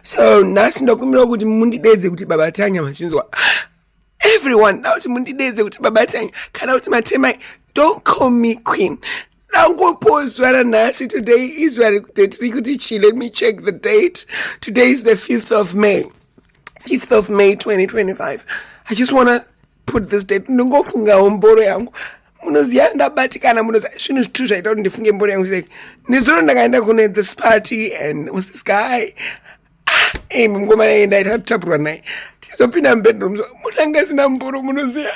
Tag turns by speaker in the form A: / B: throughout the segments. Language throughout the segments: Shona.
A: so nhasi ndakumbirawo kuti mundidedze kuti baba tanya machinzwa everyone da kuti mundidedze kuti baba tanya kana kuti matemai don't call me queen dangopo zuva ranhasi today izuva rekuti tiri kuti chi let me check the date today is the 5th of may 5th of may 2025 i just wanna put this date ndingofungawo mboro yangu munoziva ndabatikana munoziva zvinhu zvitu zvaita kuti ndifunge mbori yangu like nezuro ndakaenda kune this party and was this guy ah, ey mukoma naye ndaita kutapurwa naye tizopinda mubedroom so munanga asina mboro munoziva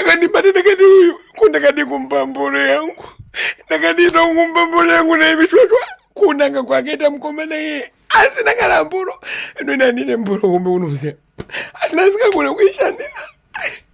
A: akandibata ndakati uyu ko ndakadi kumba mboro yangu ndakadi ndokumba mboro yangu naye vichwachwa kunanga kwakaita mukoma naye asina kana mboro ndoenda ndine mboro kumbe unoziva asina asingagona kuishandisa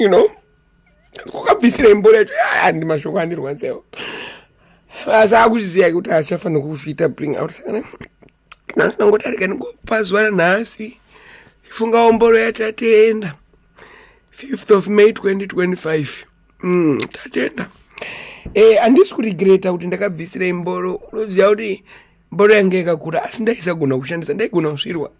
A: you know kwakabvisira imbori yacho handi mashoko andirwadzisawo asi akuziva kuti achafanira kuzviita bring out sakana nhasi nangotarika ndingopazuva ranhasi funga omboro yatatenda 5th of may 2025 mm, tatenda e handisi kurigreta kuti ndakabvisira imboro unoziva kuti mboro yange yakakura asi ndaisagona kushandisa ndaigona kusvirwa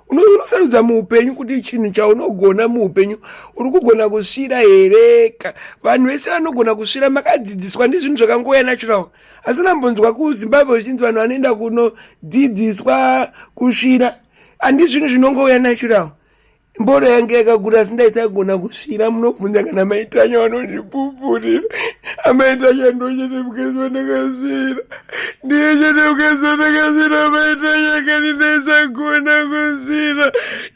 A: unosarudza muupenyu kuti chinhu chaunogona muupenyu uri kugona kusvira here vanhu vese vanogona kusvira makadzidziswa ndizvinhu zvakangouya natural asi nambonzwa kuzimbabwe zvichinzi vanhu vanoenda kunodzidziswa kusvira handizvinhu zvinongouya natural mboro yange yakakura asi ndaisagona kusvira munobvunza kana maitanya vanondipupurira amaitanya ndochete mukezi wandakasvira ndiye chete mukezi wandakasvira amaitanya kani ndaisagona kusvira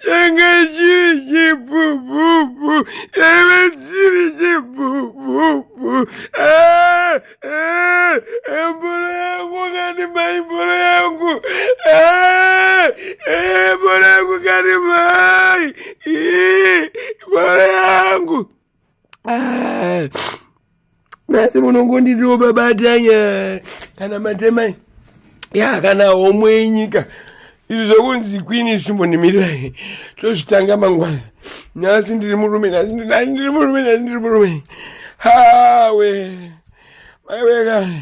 A: yanga chiri chipupupu yaiva chiri chipupupu ah! Eh, eh, mboro yangu kani mai mboro yangu eh, mboro yangu kani mai mboro yangu nasi munongonditiwo babatanya kana matemai ya kana homwe yenyika izvi zvekunzi kwini zvimbo ndimirirai tozvitanga mangwana nhasi ndiri murume nhasi ndiri murume nhasi ndiri murume hawe maiwekani